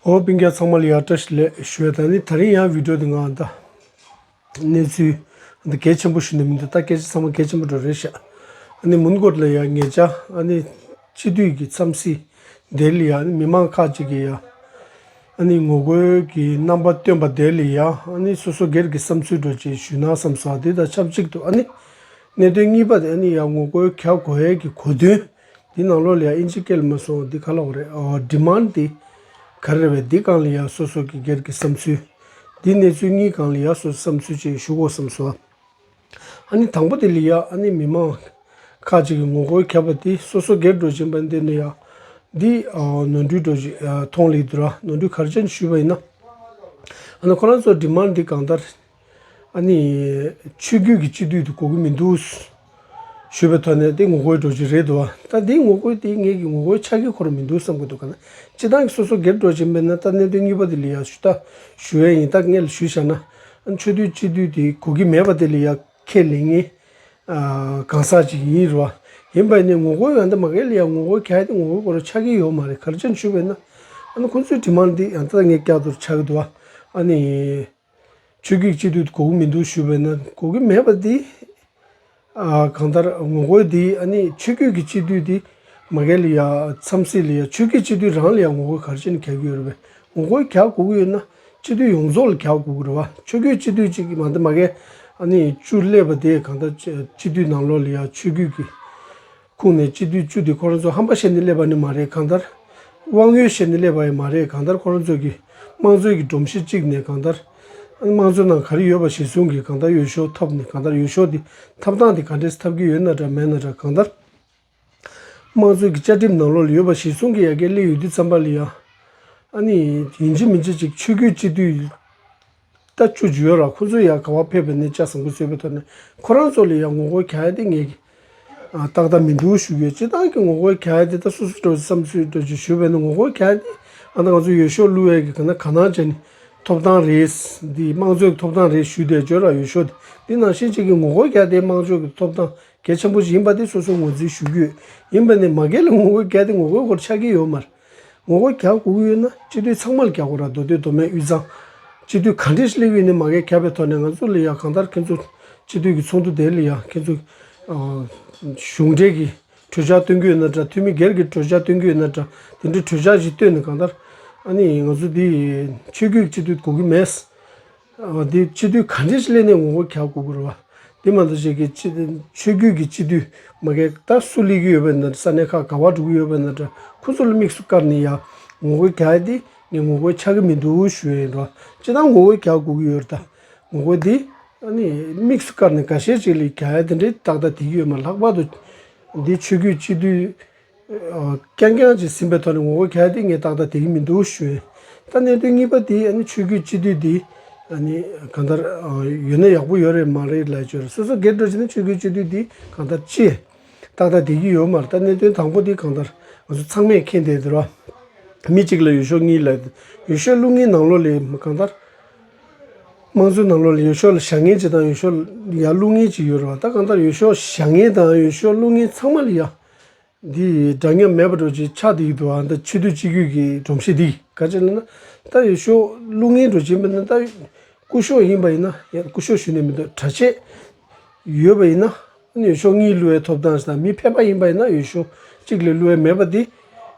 ཧོ་པིང་ཀ་ཚང་མ་ལ་ཡག་བཀྲ་ཤིས་ལེགས་ཤོས་དང་ནི་ད་རིང་ཡང་བིད་ཀྲོ་དེ་འང་ད་གནས་ཚུལ་འདི་གལ་ཆེན་པོ་ཞིག་ནི་མི་འདུག་ད་སྐད་ཆ་ཚང་མ་གལ་ཆེན་པོ་འགྲོ་རེད་ཤག་ཨ་ནི་མུན་གོར་ལ་ཡག་ངེད་ཅག་ཨ་ནི་སྤྱི་འཐུས་ཀྱི་འཚམས་གཟིགས་དེ་ལ་ཡག་ནི་མི་མང་ཁག་ཅིག་གི་ཡག་ཨ་ནི་ངོ་རྒོལ་གྱི་རྣམ་པ་སྟོན་པ་དེ་ལ་ཡག་ཨ་ནི་སོ་སོ་སྒེར་གྱི་བསམ་ཚུལ་འགྲོ་བྱེད་ཞུས་ན་བསམ་སོ་ཨ་དེ་དང་ཆབས་ཅིག་ཏུ་ཨ་ནི་གནད་དོན་གཉིས་པ་དེ་ཨ་ནི་ཡག་ངོ་རྒོལ་ག་གོ་ཨེ་གི་གོ་དོན། འདི་ནང་ལོགས་ལ་ཡང་ཨིན་ཇི་སྐད་ལ་མ་སོང་འདི་ག་ལ་འོག་རེད་འོ Demand འདི་ག་རེ་རེད་འདི་གང་ལ་ཡག་སོ་སོ་གི་སྒེར་གི་བསམ་ཚུལ། འདི་གནས་ཚུལ་གཉིས་གང་ལ་ཡག་སོ་སོ་བསམ་ཚུལ་བཅས་ཞུ་གོ་བསམ་སོ། ཨ་ནི་དང་པོ་དེ་ལས་ཡག་ཨ་ནི་མི་མང་ཁག་ཅིག་གི་ངོ་རྒོལ་ཁྱབ་པ་དེ་སོ་སོ་སྒེར་འགྲོ་བཞིན་པ་འདི་ནི་ཡག་འདི་ནོར་འཁྲུལ་འགྲོ་བཞིན་ཐོང་ལེགས་འདུག་ར་ནོར་འཁྲུལ་གར་ཅན་ཞུས་པ་ཡིན་ན་ཨ་ནི་ཁོ་རང་ཚོ Demand འདི་གང་ལྟར་ཨ་ནི། ཆོས་རྒྱུད་ཀྱི་སྤྱི་འཐུས་དུ་གོ་གི་མི་འདུག། ཞུས་པའི་ཐོག་ནས་དེ་ངོ་རྒོལ་སྒྲོག་ཅིག་རེད་འདུག་བ། ད་དེ་ངོ་རྒོལ་དེ་ངེད་ཀྱི་ངོ་རྒོལ་ཆགས་ཀྱི་ཁོར་མི་འདུག་བསམ་གི་འདུག་ག་ན་སྤྱི་བཏང་གི་སོ་སོ་སྒེར་སྒྲོག་ཅིག་མིན་ན་ད་གནད་དོན་གཉིས་པ་དེ་ལ་ཡང་ཞུ་ལྟ་ཞུ་འོས་ཡིན་ད་ངེད་ལ་ཞུས་བཞག་ན་ཨ་ནི་ཆོས་འཐུས་སྤྱི་འཐུས་དེ་གོ་གི་མེད་པ་དེ་ལ་ཡང་ཁས་ལེན་ངེས་གང་ཟག་ཅིག་ཡིན་རུང་བ། ཡིན་པ་ཡིན་ནའི་ངོ་རྒོལ་ཡང་ད་མ་ངེད་ལ་ཡང་ངོ་རྒོལ་ག་དེ་ངོ་རྒོལ་སྐོར་ཆགས་ཀྱི་ཡོད་མ་རེད་གར་ཅི་ཞུས་པས་ན་ཨ་ནི་ཁོང་ཚོའི་དྲི་མ་འདི་ཡང་ད་ངེད་བསྐྱར་དུ་ཆགས་ཀྱི་འདུག་བ། ཨ་ནི། ཆོས་བརྒྱུད་གཅིག་ཏུ་གོ་གི་མི་འདུག་ཞུས་པས་ན་གོ་གི་མེད་པ་དེ་གང་ལྟར་ངོ་རྒོལ་དེ་ཨ་ནི་ཆོས་བརྒྱུད་ཀྱི་སྤྱི་འཐུས་དེ་མ་གལ་ཡ་འཚམས་སྲིད་ལ་ཡ་ཆོས་བརྒྱུད་སྤྱི་འཐུས་རང་ལ་ཡ་ངོ་རྒོལ་གར་ཅན་གྱ་གི་ཡོད་རེད་པས་ངོ་རྒོལ་གྱ་གོ་གི་ཡོད་ན་སྤྱི་འཐུས་ཡོངས་རྫོགས་ལ་གྱ་གོ་གི་རེད་བ་ཆོས་བརྒྱུད་སྤྱི་འཐུས་གཅིག་མ་འདི་མ་གལ་ཨ་ནི་བཅུ་སླེབས་པ་དེ་གང་ལྟར་སྤྱི་འཐུས་ནང་ལོགས་ལ་ཡ་ཆོས་བརྒྱུད་ཀྱི། ཁུངས་ནས་སྤྱི་དུས་བཅུ་དེ་ཁོ་རང་ཚོ་ཧམ་པ་བཤད་ནས་སླེབས་པ་ནི་མ་རེད་གང་ལྟར། དབང་ཡོད་བཤད་ནས་སླེབས་པ་ཡང་མ་རེད་གང་ལྟར་ཁོ་རང་ཚོ་གིས་དམངས་གཙོའི་གི་སྒྲོམ་གཞི་བཅིག་ནས་གང་ལྟར། དམངས་གཙོའི་ནང་ག་རེ་ཡོད་པ་གཞིར་བཟུང་གིས་གང་ལྟར་ཡོ་ཤོ་ཐོབ་ནས་གང་ལྟར་ཡོ་ཤོ་དེ་འཐབ་སྟངས་དེ་ག་འདྲས་སུ་འཐབ་གི་ཡོད་ན་འདྲ་མེད་ན་འདྲ་གང་ལྟར། དམངས་གཙོའི་གི་བཅའ་ཁྲིམས་ནང་ལོག་ལ་ཡོད་པ་གཞིར་བཟུང་གིས་ཡ་གས་སླེབས་ཡོད་དུས་བརྩམས་པ་ལ་ཡང། ཨ་ནི། ཡིན་གཅིག་མིན་གཅིག་ཅིག་ཆོས་སྐུའི་སྤྱི་དུས། ལྟ་ཅི་བྱུ་ཡོད་རང་ཁོང་ཚོས་ཡང་ག་བ་ཕེབས་པ་ནས་ལྕགས་ཟམ་གུ་ཚོད་པའི་ཐོག་ནས་ཁོ་རང་ཚོ་ལ་ཡང་ངོ་རྒོལ་ག་ཡ་དེ་ངས་ཏག་ཏག་མི་འདུག་ཞུ་གི་ཡོད་སྤྱི་བཏང་གི་ངོ་རྒོལ་ག་ཡ་དེ་ད་སུ་སུ་འགྲོ་བསམ་ཚུལ་འགྲོ་ཅི་ཞུ་བས་ན་ངོ་རྒོལ་ག་ཡ་དེ་ཨ་ན་ང་ཚོ་ཡོད་ཤོག་གླུ་བས་ཀྱི་ག་ན་ག་ནང་བྱས་ནས་ཐོབ་ཐང་རེད། འདི་དམངས་གཙོའི་གི་ཐོབ་ཐང་རེད་ཞུས་དེ་བྱོས་ར་ཡོད་ཤོག་དེ་ནང་བཞིན་བྱེད་ཀྱི་ངོ་རྒོལ་ག་ཡ་དེ་དམངས་གཙོའི་གི་ཐོབ་ཐང་གལ་ཆེན་པོ་ཞིག་ཡིན་པ་དེ་སོ་སོ་ངོས་འཛིན་ཞུ་གི་ཡོད་ཡིན་པ་ནས་མ་གལ་ལ་ངོ་རྒོལ་ག་ཡ་དེ་ངོ་རྒོལ་སྐོར་ཆགས་ཀྱི་ཡོད་མ་རེད། ངོ་རྒོལ་གྱ་དགུ་དབུས་ན་སྤྱི་འཐུས་ཚང་མ་ལ་རྒྱ་སྒོ་ར་མདོ་སྟོད་མདོ་སྨད་དབུས་གཙང། སྤྱི་འཐུས་ག་འདྲས་ཤི་ལེ་འི་ནི་མ་གས་གྱ་པའི་ཐོག་ནས་ང་ཚོ་ལ་ཡ་གང་ལྟར་ཁྱེད་ཚོ་སྤྱི་འཐུས་ཀྱི་ཚོགས་འདུ་དེ་ལ་ཡ་ཁྱེད་ཚོ་གཞུང་འབྲེལ་གྱི་གྲོས་འཆར་བཏོན་གྱི་ཡོད་ན་འདྲ་འཐུས་མི་སྒེར་གྱི་གྲོས་འཆར་བཏོན་གྱི་ཡོད་ན་འདྲ་དེ་འདྲའི་གྲོས་འཆར་ཞིག་བཏོན་ནས་གང་ལྟར་ཨ་ནི་ང་ཚོ་འདི་ཆོས་རྒྱུད་སྤྱི་འཐུས་དགོ་གི་མེད། འདི་སྤྱི་འཐུས་ག་འདྲས་སླེབས་ནས་ངོ་རྒོལ་ག་དགོས་ཀྱི་རེད་བ། འདི་མ་གཏོགས་ཆེད་ཀྱི་ཆོས་རྒྱུད་ཀྱི་སྤྱི་འཐུས་མ་གས་ད་སུ་སླེབས་ཀྱི་ཡོད་པ་འདྲ་ས་གནས་ཁག་ག་བ་འགྲོ་གི་ཡོད་པ་འདྲ་འདྲ་ཁོ་ཚོ་ལ་དམིགས་སུ་བཀར་ནས་ཡང་ངོ་རྒོལ་ག་འདི་ངས་ངོ་རྒོལ་ཆགས་ཀྱི་མི་འདུག་ཞུས་ཡོད་རེད་བ། ཅི་སྟངས་ངོ་རྒོལ་ག་དགོས་ཀྱི་ཡོད་རེད་ད། ངོ་རྒོལ་འདི་ཨ་ནི་དམིགས་སུ་བཀར་ནས་ག་ཤེད་ཅིག་ལས་ག་འདི་འདྲའི་ཏག་ཏག་དེ་གི་ཡོད་མ་ལྷག་པར་དུ་འདི་ཆོས་རྒྱུད་སྤྱི་འཐུས་རྐྱང་རྐྱང་བྱས་ཟིན་པའི་ཐོག་ནས་ངོ་རྒོལ་གལ་ཏེ་ངས་བཏང་ད་དེ་གི་མི་འདུག་ཞུ་ཨེ། ད་གནད་དོན་གཉིས་པ་དེ་ཨ་ནི་ཆོས་བརྒྱུད་སྤྱི་འཐུས་དེ་ཨ་ནི་གང་ལྟར་ཡོད་ན་ཡག་པོ་ཡོད་རེད་མ་རེད་ལས་བྱོས་རེད་སོ་སོ་སྒེར་འགྲོ་བྱས་ན་ཆོས་བརྒྱུད་སྤྱི་འཐུས་དེ་གང་ལྟར་ཅི་བཏང་ད་དེ་གི་ཡོད་མ་རེད་ད་གནད་དོན་དང་པོ་དེ་གང་ལྟར་ང་ཚོ་ཚང་མས་མཁྱེན་བསྡད་དེར་བ་མི་གཅིག་ལ་ཡོད་ཤོག་གཉིས་ལ་ཡོད་ཤོག་ལུགས་ངན་ནང་ལོགས་ལས་གང་ལྟར་དམངས་གཙོའི་ནང་ལོགས་ལ་ཡོད་ཤོག་ལ་བཞག་ངན་ཅིག་དང་ཡོད་ཤོག་ཡ་ལུགས་ངན་ཅིག་ཡོད་རེད་བ་ད་གང་ལྟར་ཡོད་ཤོག་བཞག་ངན་དང་ཡོད་ཤོག་ལུགས་ངན་ཚང་མ་ལ་ཡ། འདི་ཡི་སྒྲ་ཉམས་མེད་པར་སྒྲོག་ཅིང་ཕྱག་འདི་ཡི་དུ་བ་འདི་ཕྱི་དུས་སྤྱི་རྒྱུད་ཀྱི་སྒྲོམ་གཞི་འདི་ག་ཅིག་ལ་ན་རྟ་ཡི་གཤོག་རླུང་ངན་འགྲོ་བྱེད་མི་ནི་རྟ་ཡི་སྐུ་གཤོག་ཡིན་པ་ཡིན་ན་ཡང་སྐུ་གཤོག་ཞུ་ནས་མི་འདུག་གྲ་ཆས་ཡོད་པ་ཡིན་ན་ཨ་ནུ་ཡི་གཤོག་གཉིས་བསླུ་བའི་ཐོབ་ཐང་དང་མི་ཕན་པ་ཡིན་པ་ཡིན་ན་ཡུལ་གཤོག་གཅིག་ལས་བསླུ་བའི་མེད་པ་འདི་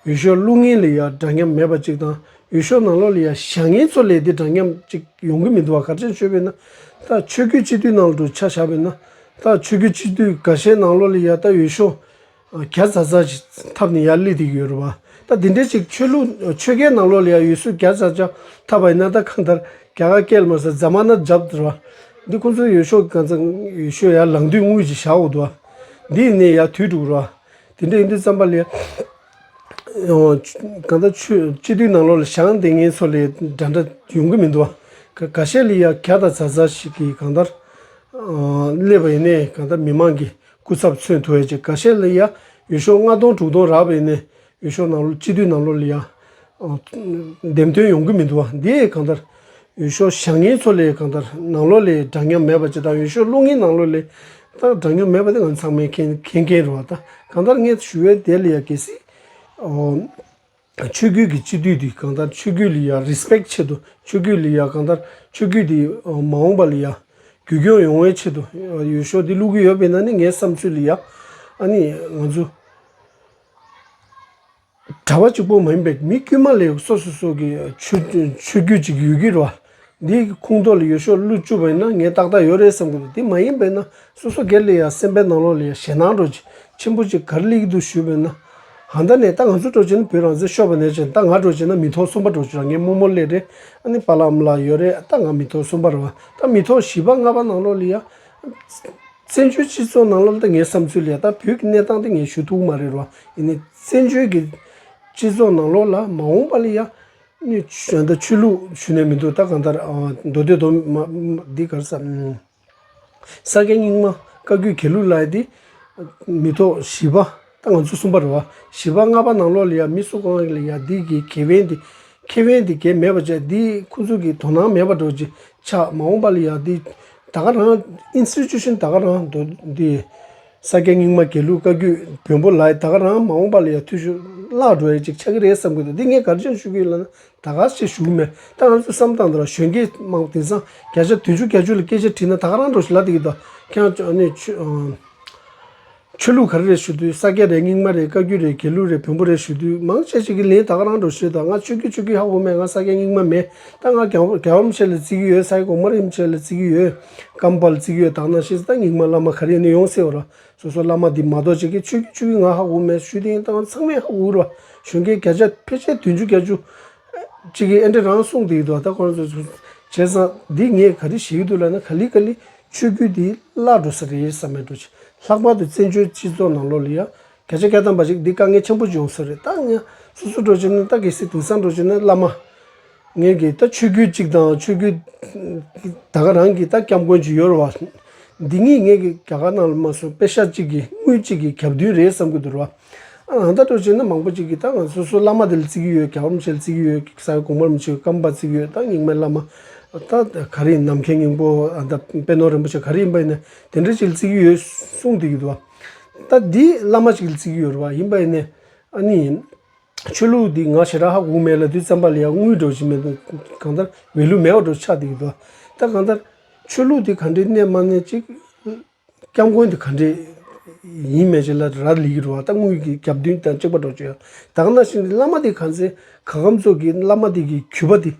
ཡུལ་གཤོག་རླུང་ངན་ལས་ཡང་སྒྲ་ཉམས་མེད་པ་གཅིག་དང་ཡུལ་གཤོག་ནང་ལོག་ལས་ཡང་ཞག་ངན་ཚོ་ལས་འདི་སྒྲ་ཉམས་གཅིག་ཡོང་གི་མི་འདུག་བ་གར་ཅན་ཆོས་པའི་ན་རྟ་ཆོས་རྒྱུད་སྤྱི་དུས་ནང་ལ་འགྲོ་འཆག་བྱ་བའི་ན་ད་ཆོས་གོས་ཕྱི་དུས་ག་ཤའི་ནང་ལོག་ལས་ཡ་ད་ཡོད་ཤོ། ག་ཙ་ཙ་ཞིག་འཐབ་ནས་ཡར་སླེབས་དུས་ཡོད་རུ་བ། ད་དེ་འདྲའི་ཅིག་ཆོས་ལུགས་ཆོས་གའི་ནང་ལོག་ལས་ཡ་ཡོད་སུ་ག་ཙ་ཅག་འཐབ་པ་ཡིན་ན་ད་གང་ལྟར་ག་ག་སྐད་ལ་མ་ཟེར་རྫ་མ་ན་རྒྱབ་དུ་ར། འདི་ཁོང་ཚོའི་ཡོད་ཤོ་ག་ཙ་ཡོད་ཤོ་ཡར་ལངས་དུས་དངུལ་གྱི་ཞག་འོག་ཏུ་བ། འདི་ཡིན་ནས་ཡར་དུས་དྲུག་རུ་བ། དེ་འདྲ་ཡིན་དུས་རྩམ་པ་ལས། གང་ལྟར་ཆོས་སྤྱི་འཐུས་ནང་ལོག་ལ་ཞང་འདེ་ངན་ཚོ་ལས་འདྲ་འདྲ་ཡོང་གི་མི་འདུག་ག་ག་ཤེད་ལི་ཡ་ག་དང་ཛ་ཛ་ཞིག་གིས་གང་ལྟར་སླེབས་པ་ཡིན་ནས་གང་ལྟར་མི་མང་གི་སྐུ་ཚབ་མཚོན་ཐུ་ཡ་ཅེ་ག་ཤེད་ལི་ཡ་ཡོད་ཤོག་ལྔ་སྟོང་དྲུག་སྟོང་རག་པ་ཡིན་ནས་ཡོད་ཤོག་ནང་ལོག་སྤྱི་འཐུས་ནང་ལོག་ལི་ཡ་འདེམས་ཐོན་ཡོང་གི་མི་འདུག་བ་འདིས་གང་ལྟར། ཡུལ་ཤོག་བཞག་ངེས་ཚོ་ལས་གང་ལྟར་ནང་ལོགས་ལས་འདྲ་མཉམ་མེད་པ་ཇི་ལྟར་ཡུལ་ཤོག་བསླུ་ངེས་ནང་ལོགས་ལས་ལྟར་འདྲ་མཉམ་མེད་པ་དེ་ང་ཚང་མའི་མཁྱེན་མཁན་རེད་བ་ད་གང་ལྟར་ངས་ཞུ་བའི་དེ་ལ་ཡ་གལ་སྲིད། ཆོས་བརྒྱུད་ཀྱི་སྤྱི་འཐུས་དེ་གང་ལྟར་ཆོས་བརྒྱུད་ལ་ཡ་རེསྤེག་ཆེད་དུ་ཆོས་བརྒྱུད་ལ་ཡ་གང་ལྟར་ཆོས་བརྒྱུད་དེ་མ་འོངས་པ་ལ་ཡ་རྒྱུས་སྐྱོང་ཡོང་བའི་ཆེད་དུ་ཡུལ་ཤོག་དེ་བསླུ་གི་ཡོད་པས་ན་ནི་ངའི་བསམ་ཚུལ་ལ་ཡ་ཨ་ནི་ང་ཚོ། གྲྭ་བ་གཅིག་པོ་མ་ཡིན་པའི་མི་དཀྱུས་མ་ལས་སོ་སོ་སོ་གི་ཆོས་བརྒྱུད་ཅིག་ཡོད་ཀྱི་རེད། འདི་ཁུངས་ཐོག་ལ་ཡོད་ཤོག་བླུ་བཅུག་པ་ཡིན་ན་ངས་ཏག་ཏག་ཡོད་རེད་བསམ་གྱི་འདུག་དེ་མ་ཡིན་པས་ན་སོ་སོ་སྒེར་ལ་ཡང་སེམས་པའི་ནང་ལོགས་ལ་ཡང་ཞེད་སྣང་སྒྲོག་ཆེན་པོ་ཅིག་གར་ལེགས་འདུག་ཞུས་པས་ན། ཧང་ད་ནས་ད་ང་ཚོ་སྒྲོག་བྱེད་ན་བོད་རང་བཙན་ཤོར་བ་ནས་བྱས་ད་ང་སྒྲོག་བྱེད་ན་མི་ཐོག་གསུམ་པ་སྒྲོག་བྱེད་རང་ངས་རྨོ་མོ་གླས་རེད་ཨ་ནི་པ་ལགས་འམ་ལགས་ཡོད་རེད་ད་ང་མི་ཐོག་གསུམ་པ་རེད་བ་ད་མི་ཐོག་བཞི་པ་ལྔ་པ་ནང་ལོགས་ལ་ཡང། བཙན་བྱོལ་སྤྱི་ཚོགས་ནང་ལོ་ལྟར་ངའི་བསམ་ཚུལ་ལས་ད་བོད་ཀྱི་གནས་སྟངས་དེ་ངས་ཞུ་ཐུབ་ཀྱི་མ་རེད་རོ། ཡིན་ནའི་བཙན་བྱོལ་གྱི་སྤྱི་ཚོགས་ནང་ལོ་ལ་མ་འོངས་པ་ལ་ཡང། ཆོས་ད་ཆོས་ལུགས་ཞུ་ནས་མི་འདུག་ད་གང་ལྟར་མདོ་སྟོད་དོ། འདི་གར་ས། ས་སྐྱ་རྙིང་མ་བཀའ་བརྒྱུད་གྱེར་ལུགས་ལ་ཡི་དེ། མི་ཐོག་བཞི་པ། ང་ཚོ་གསུམ་པ་རེད། བཞི་པ་ལྔ་པ་ནང་ལོགས་ལ་ཡང་མི་གསོད་གང་ཡང་ལ་ཡང་འདི་གི་གེ་བན་འདི་ཁེ་བན་འདི་གེ་མེད་པ་བྱས་འདི་ཁོ་ཚོ་གི་དོ་སྣང་མེད་པ་འགྲོ་གི་ཆགས་མ་འོངས་པ་ལ་ཡང་འདི་ད་ག་རང Institution ད་ག་རང་འདོ་འདི་ས་སྐྱ་རྙིང་མ་གེ་ལུག་བཀའ་རྒྱུད་བོན་པོ་ལ་ད་ག་རང་མ་འོངས་པ་ལ་ཡང་འཐུས་ཤོར་བརླག་འགྲོ་ཡ་ཅིག་ཆགས་ཀྱི་རེད་བསམ་གྱི་འདུག་འདི་ངས་གར་འཆམ་ཞུ་གི་ལ་ན་ད་ག་ཆེ་ཞུགས་མེད་ད་ང་ཚོས་བསམ་སྟངས་འདི་ལ་གཞོན་སྐྱེས་དམངས་དེང་སང་བརྒྱ་ཆ་དོན་བཅུ་གྱ་བཅུ་ལ་སྐད་ཆ་དྲིས་ན་ད་ག་རང་འགྲོ་ཞིག་ལབ་འདི་གི་ད་ཁྱེད་རང་ནས་ཆོས། ཆོས་ལུགས་ག་རེ་རེད་ཞུ་དུས་ས་སྐྱ་རེད་རྙིང་མ་རེད་བཀའ་བརྒྱུད་རེད་དགེ་ལུགས་རེད་བོན་པོ་རེད་ཞུ་དུས་མང་ཆེ་ཆེ་གི་ལན་དག་རང་འགྲོ་ཤེས་དང་ང་ཆོས་བརྒྱུད་ཆོས་བརྒྱུད་ཧ་གོ་མེད་ང་ས་སྐྱ་རྙིང་མ་མེད་ད་ང་རྒྱ་རྒྱ་བམ་ཆེ་ལ་བརྩི་གི་ཡོད་ས་ཡི་གོང་མ་རིན་པོ་ཆེ་ལ་བརྩི་གི་ཡོད་སྐམ་པ་ལ་བརྩི་གི་ཡོད་དག་ནང་ཤེས་ད་རྙིང་མ་བླ་མ་ག་རེ་ཡིན་ནི་ཡོང་སེ་འོ་ར་སོ་སོ་བླ་མ་འདི་མ་གཏོགས་ཅི་གི་ཆོས་བརྒྱུད་ཆོས་བརྒྱུད་ང་ཧ་གོ་མེད་ཞུ་དེ་ཡིན་ད་ང་ཚང་མས་ཧ་གོ་གི་ར་གཞོན་སྐྱེས་བརྒྱ་ཆ་ཕལ་ཆེར་དུས་འཇུ་བརྒྱ་འཇུ་ཅི་གི་ཨེ་འདྲ་རང་གསུངས་དེ་ཡི་དོ་ད་ཁོ་རང་ཚོ་ཚོ་བྱས་ཙང་འདི་ངས་ག་རེ་བྱེད་གི་འདུག་ལ་ན་ག་ལི་ག་ལི་ཆོས་བརྒྱུད་འདི་བརླག་འགྲོ་ས་དེ་ཡིན་ས་མེད་འགྲོ། ལྷག་པར་དུ་བཙན་བྱོལ་སྤྱི་ཚོགས་ནང་ལོ་ལེགས་ཡ་གྱ་ཆེ་ག་བཏང་པ་ཞིག་འདི་དཀའ་ངལ་ཆེན་པོ་འབྱུང་ས་རེད་ད་ང་སོ་སོ་འགྲོ་བྱེད་ནི་སྟག་གེ་སི་དིང་སང་འགྲོ་བྱེད་ནི་བླ་མ། ངེད་ཀྱིས་ད་ཆོས་བརྒྱུད་ཅིག་དང་ཆོས་བརྒྱུད་ད་ག་རང་གིས་ད་སྐྱབས་མགོན་ཇི་ཡོར་བ་འདི་གཉིས་ངེད་ཀྱི་རྒྱ་གར་ནང་ལ་མ་སོང་པེ་ཤ་གཅིག་གི་དངུལ་གཅིག་གི་གྱ་བདུན་རེད་བསམ་གྱི་འདུར་བ་ཨང་རྟགས་སྤྲོད་བྱེད་ནི་མང་པོ་གཅིག་གིས་ད་ང་ཚོས་སུ་བླ་མ་དེ་ལ་བརྩི་གི་ཡོད་ག་བ་མི་ཤེས་ལ་བརྩི་གི་ཡོད་ས་གོང་མར་མི་ཤེས་སྐམ་པར་བརྩི་གི་ཡོད་ད་རྙིང་མའི་བླ་མ་ད་ག་རེ་ཡིན་ནམ་མཁའི་སྙིང་པོ་ཨང་རྟགས་དཔལ་ནོར་རིན་པོ་ཆེ་ག་རེ་ཡིན་པ་ཡིན་ནས་དེ་འདྲ་ཅིག་ལ་བརྩི་གི་ཡོད་གསུངས་བསྡད་ཀྱི་འདུག་བ་ད་འདི་བླ་མ་ཅིག་ལ་བརྩི་གི་ཡོད་རེད་བ་ཡིན་པ་ཡིན་ནས་ཨ་ནི་ཡིན། ཆོས་ལུགས་འདི་ང་ཞེ་དྲག་ཧ་གོ་མེད་ལ་དུས་བཙན་པ་ལ་ཡང་དངུལ་འགྲོ་བཞིན་མེད་འདུག་གང་ལྟར་མི་ལུས་མེད་བ་འགྲོ་ཆགས་བསྡད་ཀྱི་འདུག་བ་ད་གང་ལྟར་ཆོས་ལུགས་འདི་ག་འདྲའི་གནས་མ་གནས་ཅིག་སྐྱབས་མགོན་དེ་ག་འདྲས་ཡིན་མེད་ཅེས་ལ་ར་ལི་གི་རུ་བ་སྟག་དངུལ་གྱི་རྒྱབ་མདུན་དང་གཅིག་པ་འགྲོགས་ཀྱི་དག་ན་ཞིང་འདི་བླ་མ་དེ་ག་ཚེ་ག་གམ་ཚོགས་ཀྱིས་བླ་མ་དེ་གི་གུས་པ་དེ་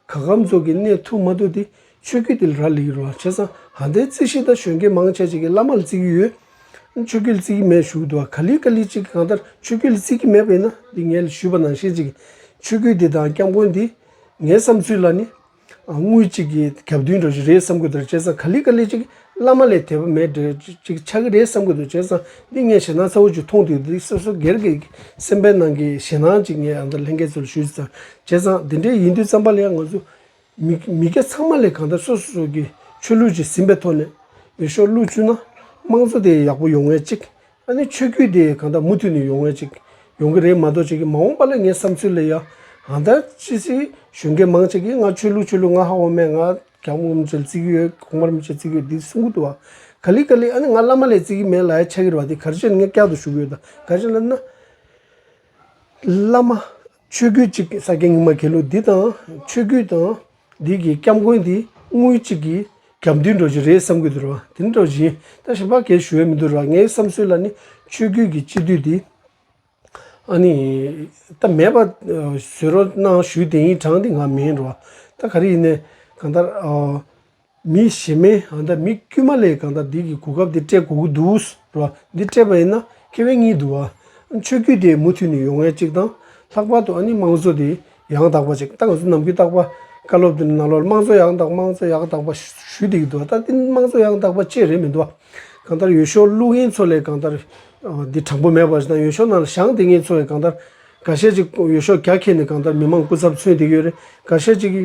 ག་གམ་ཚོགས་ཀྱིས་གནས་ཐུབ་མ་ཐུབ་དེ་ཆོས་རྒྱུད་དེ་ལ་ར་ལི་གི་རུ་བ་བྱས་ཙང་ཧ་འདའི་རྩིས་ཤིག་དང་གཞོན་སྐྱེས་མང་ཆེ་ཆེ་གི་བླ་མ་ལ་རྩིས་ཀྱི་ཡོད། ཆོས་རྒྱུད་ལ་རྩིས་ཀྱི་མེད་ཞུ་གི་འདུག་ག་ལི་ག་ལི་གཅིག་གི་གང་ལྟར་ཆོས་རྒྱུད་ལ་རྩིས་ཀྱི་མེད་པ་ཡིན་ན་འདི་ངས་ལ་ཞུས་པ་ནང་བཞིན་ཅིག་ཆོས་རྒྱུད་དེ་དང་སྐྱབས་མགོན་དེ་ངའི་བསམ་ཚུལ་ལ་ནི་དངུལ་གཅིག་གིས་གབ་དུས་འགྲོ་གི་རེད་བསམ་གི་འདུག་བྱས་ཙང་ག་ལི་ག་ལི་གཅིག་བླ་མ་ལས་དད་པ་མེད་འདྲ་གཅིག་ཆགས་ཀྱི་རེད་བསམ་གི་འདུག་བྱས་ཙང་འདི་ངས་ཞེད་སྣང་ཚ་བོ་ཅིག་མཐོང་དུས་འདི་སོ་སོ་སྒེར་གྱི་སེམས་པའི་ནང་གི་ཞེད་སྣང་ཅིག་ངས་ཨ་མདོ་ལྷན་རྒྱས་ཚོ་ལ་ཞུས་ཚེ་ཙང་བྱས་ཙང་འདི་འདྲའི་ཡིན་དུས་བརྩམས་པ་ལ་ཡང་ང་ཚོ་མི་མི་སྐྱ་ཚང་མ་ལས་གང་ལྟར་སོ་སོ་སོ་གྱི་ཆོས་ལུགས་ཅིག་ཟིན་པའི་ཐོག་ནས་ཡོད་ཤོག་ལུགས་བཅུ་ན་དམངས་གཙོ་དེ་ཡག་པོ་ཡོང་ངེས་གཅིག་ཨ་ནི་ཆོས་བརྒྱུད་དེ་གང་ལྟར་མུ་མཐུད་ནས་ཡོང་ངེས་ཅིག་ཡོང་གི་རེད་མ་གཏོགས་ཁྱེད་ཀྱི་མ་འོངས་པ་ལ་ངའི་བསམ་ཚུལ་ལ་ཡང་ཨང་དར་ཅི་སྲིད་གཞོན་སྐྱེས་མང་ཅིག་གིས་ང་ཆོས་ལུགས་ཆོས་ལུགས་ང་ཧ་འོ་མས་ང་རྒྱ་དམུ་མི་ཆོས་ལ་བརྩི་གི་ཡོད་གོང་མར་མི་ཆོས་བརྩི་གི་ཡོད་འདི་གསུང་གི་འདུག་བ་ག་ལི་ག་ལི་ཨ་ནི་ང་བླ་མ་ལས་བརྩི་གི་མེད་ལ་ཡ་ཆ་གིར་བ་དེ་གར་བྱོན་ནས་ངས་བསྐྱར་དུ་ཞུ་གི་ཡོད་ད་གར་བྱོན་ན་ན། བླ་མ། ཆོས་སྐུ་གཅིག་གི་ས་སྐྱ་སྙིགས་མ་གེ་ལོ་འདི་དང་ཆོས་སྐུ་དང་འདི་གི་སྐྱབས་མགོན་དེ་དངུལ་གཅིག་གི་རྒྱབ་མདུན་འགྲོ་བཞིན་རེད་བསམ་གི་འདུག་ར་དེ་འདྲ་བཞིན་ད་ཞིམ་པ་གས་ཞུ་ཡ་མི་འདུག་ར་ངའི་བསམ་སྲོལ་ལ་ནི་ཆོས་སྐུ་གི་སྤྱི་འདུས་དེ་ཨ་ནི་ད་མེད་པ་བཟོས་རོགས་གནང་ཞུ་དེ་ཡིན་གྲང་དེ་ང་མིན་ར་ད་ག་རེ་ཡིན་ནས་གང་ལྟར་ཨོ། མི་ཞེ་མེད་ཨ་འདྲ་མི་དཀྱུས་མ་ལས་གང་དག་འདི་གི་གོ་སྐབས་འདི་སྤྲད་གོ་གི་འདུག་ར་བ་འདི་སྤྲད་པ་ཡིན་ན་ཁེ་བའི་གཉིས་འདུག་ཨ་ཆོས་བརྒྱུད་དེ་མུ་མཐུད་ནས་ཡོང་ཡ་གཅིག་དང་ལྷག་པར་དུ་ཨ་ནི་དམངས་གཙོ་དེ་ཡང་དག་པ་ཅིག་ད་ང་ཚོ་ནམ་རྒྱུན་བརྟག་པ་བཀའ་སློབ་དེ་ནས་ནང་ལོག་ལ་དམངས་གཙོ་ཡག་དག་དམངས་གཙོ་ཡག་དག་པ་ཞུས་བསྡད་ཀྱི་འདུག་ད་འདི་དམངས་གཙོ་ཡག་དག་པ་བཅས་རེད་མི་འདུག་ཨ་གང་ལྟར་ཡོད་ཤོག་ཀླུ་རྒན་ཚོ་ལས་གང་ལྟར་འདི་དྲང་པོ་མེད་པ་རེད་དང་ཡོད་ཤོག་ནང་ལ་ཞང་དེ་ངན་ཚོ་ཡང་གང་ལྟར་ག་ཤེད་ཅིག་ཡོད་ཤོག་རྒྱ་ཁྱེར་ནས་གང་ལྟར་མི་མང་སྐུ་ཚབ་མཚོན་བསྡད་ཀྱི་ཡོད་རེད་ག་ཤེད་ཅིག་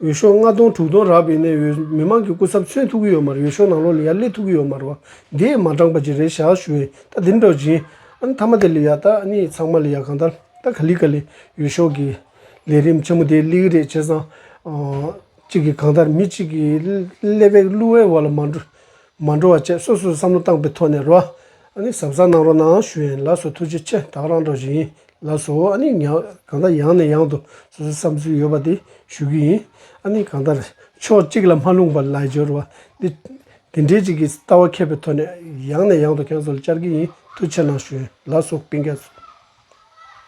འོས་ཤོག་ལྔ་སྟོང་དྲུག་སྟོང་རག་པའི་གནད་འོས་མི་མང་གི་སྐུ་ཚབ་མཚོན་ཐུབ་ཀྱི་ཡོད་མ་རེད་འོས་ཤོག་ནང་ལོག་ལི་ཡ་སླེ་ཐུབ་ཀྱི་ཡོད་མ་རེད་བ་འདིས་མ་འགྲངས་པ་ཅི་རེད་ཞག་ཞུ་ཨེ་ད་དེ་འདྲ་བཞིན་ཨ་ནི་ཐ་མ་དེ་ལི་ཡ་ད་ཨ་ནི་ཚང་མ་ལི་ཡ་གང་ལྟར་ད་ག་ལི་ག་ལི་འོས་ཤོག་གི་ལས་རིམ་ཆེན་མོ་དེ་གླི་གི་རེད་བྱས་ཙང་གཅིག་གིས་གང་ལྟར་མི་གཅིག་གིས་ཀླད་པའི་གླུ་བའི་བར་ལ་མ་འགྲོ་མ་འགྲོ་བ་བཅས་སོ་སོས་བསམ་བློ་བཏང་པའི་ཐོག་ནས་རོ་ཨ་ནི་ཟབ་ས་གནང་རོགས་གནང་ཞུ་ཡན་ལགས་སུ་ཐུགས་རྗེ་ཆེ་ད་རང་འདྲ་བཞིན་ལ་སོགས་ཨ་ནི་ཉག་གང་ལྟར་ཡང་ནས་ཡང་དུ་སོ་སོའི་བསམ་ཚུལ་ཡོད་པ་དེ་ཞུ་གི་ཡིན། ཨ་ནི་གང་ལྟར་ཕྱོགས་གཅིག་ལ་མ་ལྷུང་བར་ལ་སྦྱོར་བ་འདི་དེ་འདྲའི་ཅིག་གི་ལྟ་བ་མཁས་པའི་ཐོག་ནས་ཡང་ནས་ཡང་དུ་ཁྱོད་ཚོ་ལ་བཅར་གི་ཡིན་ཐུགས་ཆེ་གནང་ཞུ། ལ་སོགས་བཀྲིན་རྒྱ་མཚོ།